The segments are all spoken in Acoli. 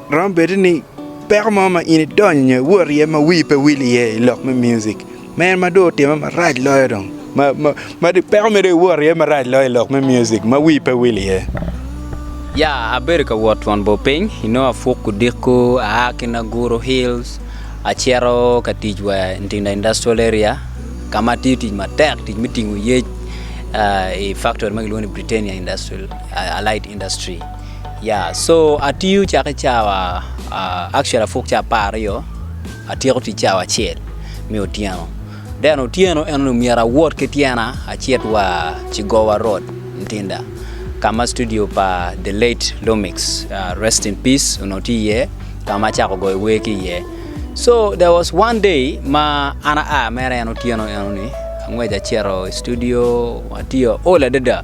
Romo bedo ni peko mo ma in idonyo nyo iwot iye ma wii pe wil iye i lok me muzik. Ma en ma dong otime marac loyo dong, ma dong peko mere iwot iye marac loyo i lok me muzik ma wii pe wil iye. Ya, abedo ka wot twon bor piny, inongo apuk odiko aa ki Naguru Hills acito ka tic wa i Ntinda Industrial Area ka ma atiyo tic matek, tic me tingo yec i faktori ma kilwongo ni Britannia Allied Industry. Yeah so atiyo cak ki cawa uh, actually apuk ca apar aryo atyeko tic cawa acel me otyeno then otyeno en onongo myero awot ki tyena acit wa cigowa road ntinda ka ma studio pa the late lomix uh, rest in peace onongo tye iye ka ma acako goyo wer ki iye so there was one day ma an aa mere en otyeno enoni angwec acito i studio atiyo ol adada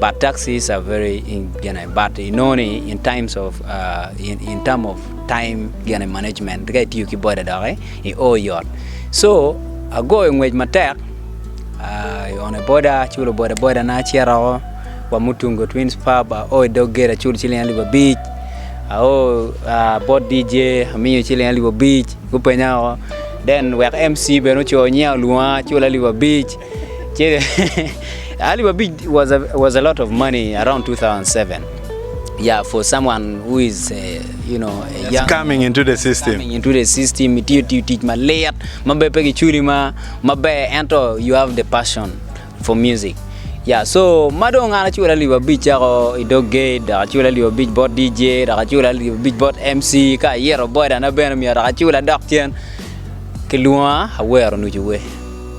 But taxis are very in gene but you know ni in times of uh, in, in term of time gene management ka itiyo ki boda dok eh, i o yot so agoyo ngwec matek uh, i one boda aculo boda boda na aciroko wa mutungo twins pub ao i dog gate aculo ciling alip abic ao uh, bot dj amiyo ciling alip abic gupenya o then wek mc bene oco niya olwonga aculo alip abic Che alip abic was a, was a lot of money around 2007. Yeah, for someone who is uh, you know a Just young coming into the system. coming into the system, itiyo tiyo tic malit ma be pe giculi ma maber ento you have the passion for music. Yeah, so ma dong an acula alip abic cako i dog gate, dok acula alip abic bot DJ, dok acula alip abic bot MC, ka ayito bodana bene myero dok acula dok cen. Kilwonga awero nucu we.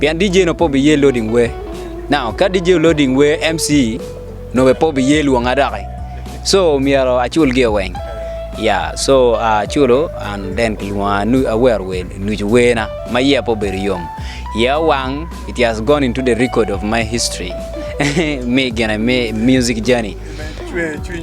pien DJ nongo pe obiye loading wer. Now, ka DJ loading wer, MC nongo bene pe obiye lwonga doki. So, myero acul gi weng. Ya, so aculo an then kilwonga nu awero wer nucu werna ma iya pe obedo yom. Iya owang, it has gone into the record of my history. Mi gene mi music journey.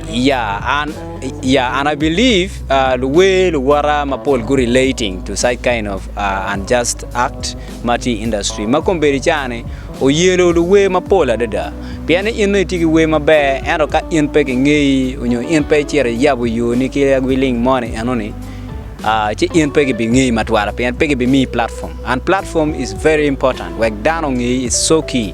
Ya an ya an I believe uh, luwer luwota mapol gu relating to such kind of uh, unjust act ma tye i industry ma kombedi cani oyelo luwer mapol adada pien ni in nongo itye ki wer maber ento ka in pe kingeyi onyo in pe icito iyabo yoni ki agwiling moni enoni uh, ci in pe gibingeyi matwala pien pe gibimiyi platform and platform is very important wek dano ongeyi is so key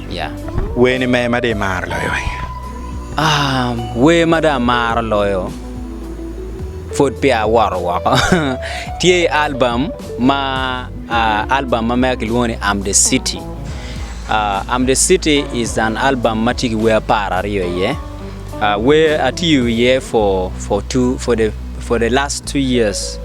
Werni me ma dong imaro loyo? Wer ma dong amaro loyo pud peya awoto woko tye albam ma albam ma mega kilwongo ni am the city, am the city is an album ma tye ki wer apar aryo iye wer atiyo iye for the last two years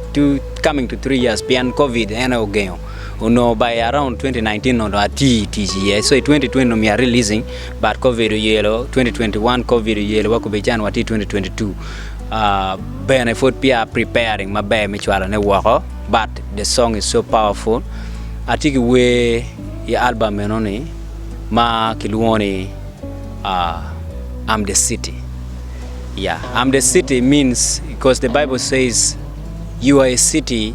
coming to three years pien covid en aye ogengo. onongo by around 2019 onongo dong ati tic iye so i 2020 onongo myero releasing but covid oyelo 2021 covid oyelo wa kube can wati 2022 uh, bene pud pia preparing maber me cwalo ne woko but the song is so powerful ati ki wer i album meno ni ma kilwongo ni uh, I'm the city yeah I'm the city means because the Bible says you are a city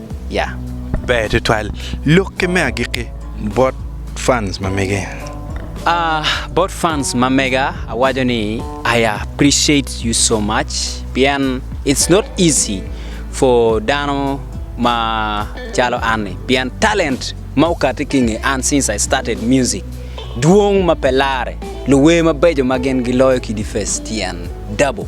ya. Ber tutwal lok ki me agikki bot fans ma mege. Aah bot fans ma mega awaco ni I appreciate you so much pien it's not easy for dano ma calo an ni pien talent ma okati ki nge an since I started music dwong ma pe lare luwer mabeco ma gin giloyo kidi first tyen double.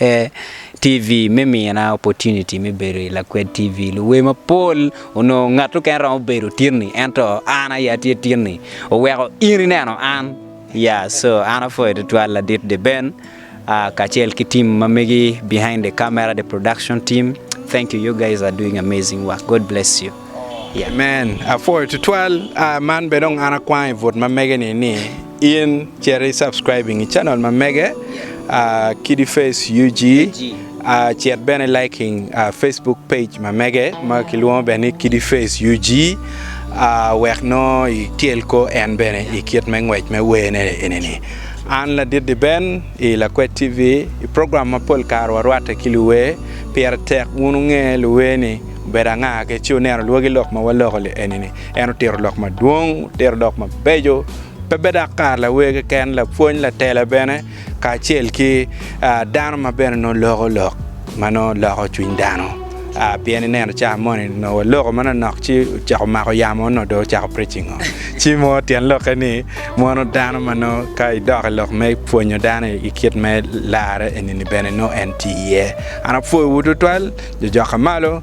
eh, TV me mina opportunity me bedo i lakwed TV. Luwe mapol onongo ngat oken romo bedo tinni, ento an aye atye tinni. Oweko in ineno an. Ya, so an apwoyo tutwal ladit de Ben, ah, kacel ki team ma megi behind the camera, the production team. Thank you, you guys are doing amazing work. God bless you. Yeah. Amen. Apwoyo tutwal. Ah, man bene dong an akwang i but ma mege ni ni. In cito i subscribe inge channel ma mege Kiddy Face UG cit bene liking Facebook page ma mege ma kilwongo bene ni Kiddy Face UG wek nongo ityel ko en bene i kit me ngwec me wene enini. An ladit di Ben i Lakwet TV i program mapol kare warwatte ki luwer pire tek wun wunge luwer ni obedo anga ki ci wuneno lwogi lok ma waloko enini. En otito lok madwong, otito lok mabeco, pe bed dok kar lawer keken, lapwony, latela bene, kacel ki ah, dano ma bene nongo loko lok ma nongo loko cwiny dano. Ah, pien ineno cawa moni nongo waloko manonok ci ocako mako yamo nongo dong ocako preaching o. Ci mo tyen lokke ni mono dano ma nongo ka idok i lok me pwonyo dano i kit me larre eni-ni bene nongo en tye iye. An apwoyowu tutwal, jojokka malo.